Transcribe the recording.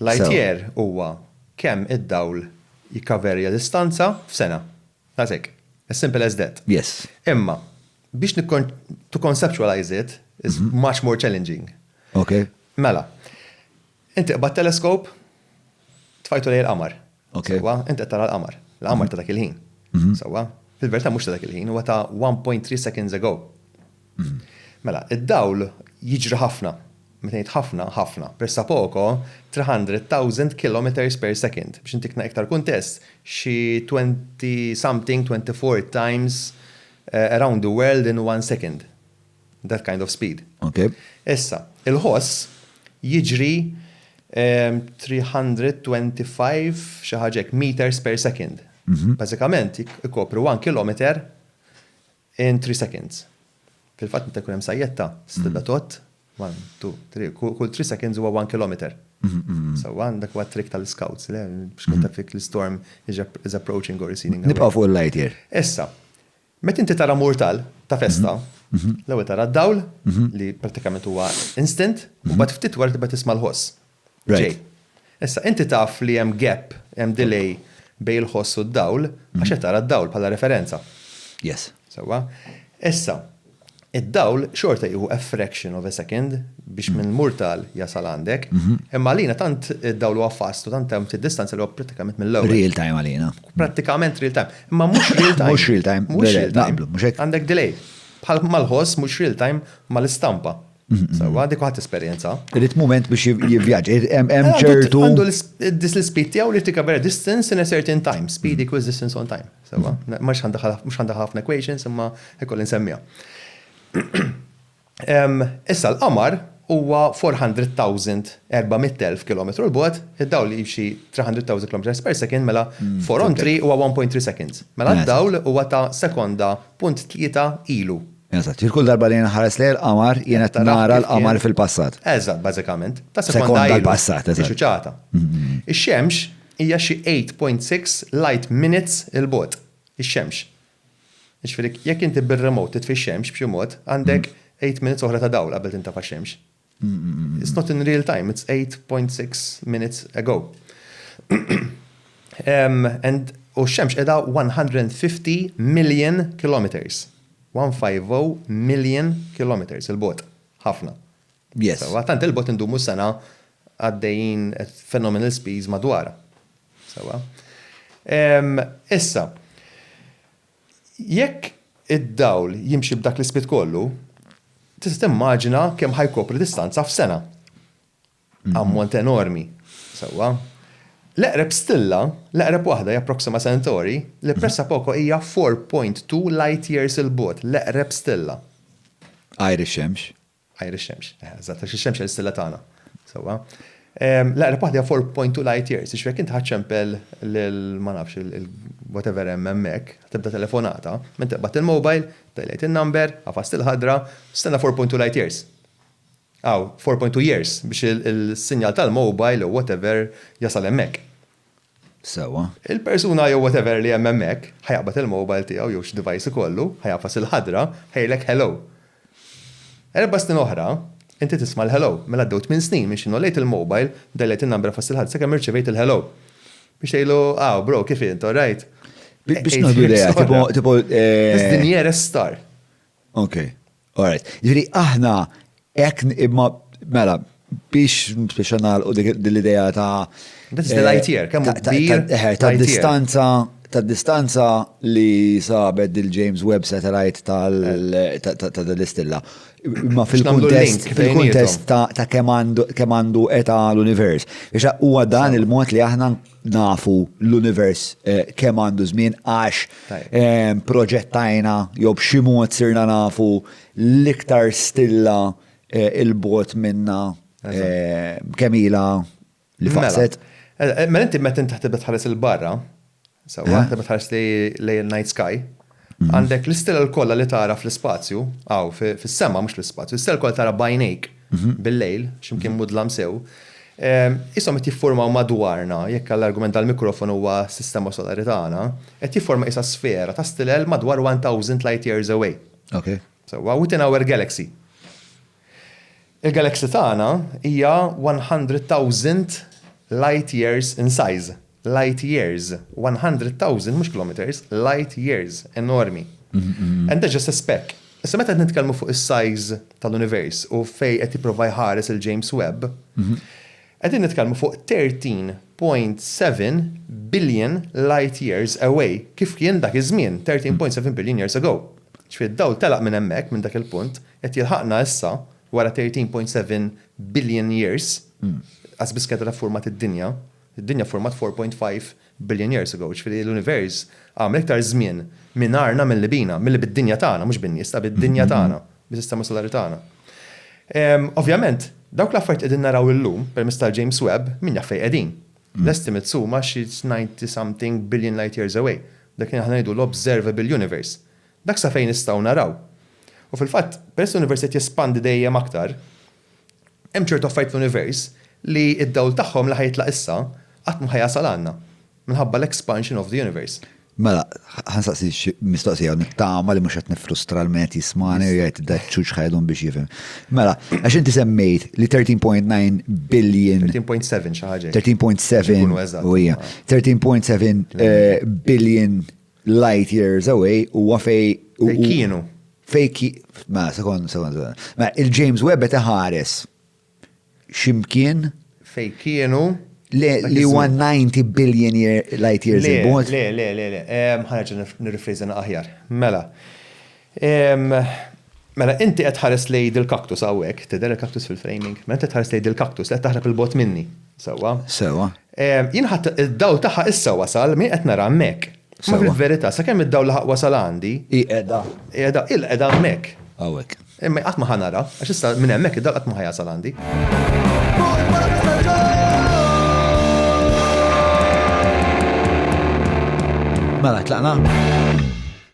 Light year huwa kemm id-dawl jikkaverja distanza f'sena. That's it. As simple as that. Yes. Imma, biex to conceptualize it is much more challenging. Okay. Mela, inti qbadt telescope, tfajtu lejn il-qamar. Sewwa, int qed tara l-qamar. L-qamar ta' dak il-ħin. Sewwa? Fil-verità mhux ta' dak il-ħin, huwa ta' 1.3 seconds ago. Mela, id-dawl jiġri ħafna. Meta ngħid ħafna, ħafna. Pressa poco, 300,000 kilometres per second. Biex intik iktar kuntest, xi twenty something, twenty four times around the world in one second. That kind of speed. Okay. Issa, il-ħoss jiġri 325 xi ħaġek meters per second. Mhm. Bażikament ikopru 1 kilometer in 3 seconds. Fil-fatt meta jkun hemm sajjetta, stilla mhm. tot, 1, 2, 3, kull 3 seconds huwa 1 kilometer. Mm-hmm. So għan dak huwa trick tal-scouts, le, biex mm-hmm. konta fik l-storm is approaching or receding. Nibqa' fuq il-light here. Issa, Meta inti tara murtal ta' festa, l-ewwel tara d-dawl li prattikament huwa instant, u mbagħad ftit wara tibda tisma' l-ħoss ġej. Issa inti taf li hemm gap, hemm delay bejn il-ħoss u d-dawl għax qed tara d-dawl bħala referenza. Yes. Sewwa? Issa, Id-dawl xorta jieħu a fraction of a second biex minn Murtal jasal għandek, imma għalina tant id-dawl huwa fast u tant hemm distanza li huwa prattikament mill-ewwel. Real time għalina. Prattikament real time. Imma mhux real time. Mhux real time. Mhux real time. Naqblu, mhux hekk? Għandek delay. Bħal mal-ħoss mhux real time mal-istampa. Sawa, dik ħadd esperjenza. Irid mument biex jivvjaġġ. Hemm ċertu. Għandu l-speed tiegħu li tika vera distance in a certain time. Speed equals distance on time. Sawa, mhux għandha ħafna equations imma ikoll insemmija. Issa l-qamar huwa 400,000, 400,000 km l bogħod id-dawl li jimxi 300,000 km per second mela 4 on 3 huwa 1.3 seconds. Mela d-dawl huwa ta' sekonda punt tlieta ilu. Eżatt, jien kull darba li jien nħares lejn il-qamar, jien qed nara l-qamar fil-passat. Eżatt, bażikament. Ta' sekonda l-passat, eżatt. Ixuċata. Ix-xemx hija xi 8.6 light minutes 'il bogħod. Ix-xemx. Jiġifieri jekk inti bir-remote titfi x-xemx b'xi mod, għandek 8 minutes oħra ta' dawl qabel tintefa' x-xemx. It's not in real time, it's 8.6 minutes ago. U x-xemx edha 150 million kilometers. 150 million kilometers il-bot. Ħafna. Yes. Sewa, tant il-bot indumu sena għaddejjin phenomenal speeds madwar. Sewa. Issa, Jekk id-dawl jimxi b'dak l-ispit kollu, tista' timmaġina kemm ħa jkopri distanza f'sena. Ammont enormi, sewwa. L-eqreb stilla, l-eqreb waħda hija Proxima Centauri, li pressapoko hija 4.2 light-years 'il bogħod, l-eqreb stilla. Għajr ix-Xemx. Għajr ix-xemx. Eħe, eżatt, għax ix-xemx hija l-istilla tagħna. Sewwa. L-aqreb waħda hija 4.2 light years, jiġifieri jekk inti ħadt ċempel lil ma nafx il-whatever hemm hemmhekk, tibda telefonata, minn tiqbad il-mobile, dajlejt in-number, għafast il-ħadra, stenna 4.2 light years. Aw, 4.2 years biex il-sinjal tal-mobile jew whatever jasal hemmhekk. sewwa. Il-persuna jew whatever li hemm hemmhekk ħa jaqbad il-mobile tiegħu jew x'device ikollu, ħa jagħfas il-ħadra, ħa jgħidlek hello. Erba' snin oħra, inti tisma' l-hello. Mela għaddew tmien snin minn xi nollejt il-mobile, dajlejt in-number għafass il-ħadra sakemm irċevejt il-hello. Biex tgħidlu, Aw, bro, kif int, all right? Biex ngħidu l-idea, tipo, tipo, eh. This dinja restar. Ok, alright. Ġiri, aħna ek imma mela biex biex u din l-idea ta' This is l-ITR, kemm ta' distanza ta' distanza li sabet dil James Webb satellite ta' dal-istilla. Ma fil-kontest fil-kontest ta' kemm għandu eta l-univers. Ix huwa dan il-mod li aħna nafu l-univers eh, kemm għandu żmien għax eh, proġettajna jew b'xi mod sirna nafu l-iktar stilla eh, il-bot minna kemm ilha li mela. faqset. Mela inti meta inti ħares il-barra, sewa, meta tħares lejn night sky, Għandek l-istilel kollha li tara fl-ispazju, hawn fis-sema mhux fl-ispazju, l-istilel kollha tara b'għajnejk bil-lejl, x'imkien mudlam sew, qishom qed jiffurmaw madwarna, jekk għall-argument tal-mikrofon huwa s-sistema solari tagħna, qed jifforma qisha sfera ta' stilel madwar 1,000 light years away. Sewwa, within our galaxy. Il-galaxy tagħna hija 100,000 light years in size. Light years. 100,000 mhux kilometers, light years. Enormi. And that's just a speck. Issa meta qed nitkellmu fuq is-size tal-univers u fejn qed jipprova jħares il-James Webb, Qegħdin nitkellmu fuq 13.7 billion light years away, kif kien dak iż-żmien, 13.7 billion years ago. Ġifieri d-dawl telaq minn hemmhekk, minn dak il-punt, qed jilħaqna issa, wara 13.7 billion years, qażbiss kienet għadha ffurmat id-dinja, id-dinja ffurmat 4.5 Billion years ago, jiġifieri l-univers għamel iktar żmien mingħajrna milli bina, milli bid-dinja tagħna, mhux bin-nies, ta' bid-dinja tagħna, bis-sistema solari tagħna. Ovvjament, dawk l-affarijiet qegħdin naraw illum permezz tal-James Webb, min jaf fejn qegħdin. L-estimates huma xi ninety something billion light years away, dak li aħna ngħidu l-observable universe. Dak sa fejn nistgħu naraw. U fil-fatt, peress li l-univers qed jespandi dejjem aktar, Hemm ċertu affarijiet fl-univers li d-dawl tagħhom li ħa jitlaq issa qatt mhu ħa jasal għandna, minħabba l-expansion of the universe. Mela, ħa nsaqsi xi mistoqsija u nittama li mhux qed niffrustra l-min qed jismagħni u jgħid da ċuċ ħa jdum biex jifhem. Mela, għax inti semmejt li 13.9 billion. 13.7 xi ħaġa hekk. 13.7 Ikunu eżatti. u hija. 13.7 eh, billion Light Years Away huwa fej. Fej kienu. Fej ki. Ma, sekond, sekond, sekond. Ma, il-James Webb qed iħares ximkien. Fej kienu. Le, li 190 billion year, light years il-bot. Le, le, le, le. Ħanġa nirrifriżen aħjar. Mela. Mela inti qed tħares lejn dil-cactus hawnhekk, tidher il-cactus fil-framing? Mela inti tħares lejn dil-cactus li qed taħrab 'il bogħod minni, sewwa? Sewwa. Jien ħadd id-dawl tagħha issa wasal, m'hi qed nara hemmhekk. Imma fil-verità, sakemm id-dawl laħaq wasal għandi. Hi qiegħda. Hi qiegħda, hi qiegħda hemmhekk. Hawnhekk. Imma qatt ma ħa nara, għax issa minn hemmhekk id-dawl qatt ma ħa jasal għandi. Mela, tlaqna?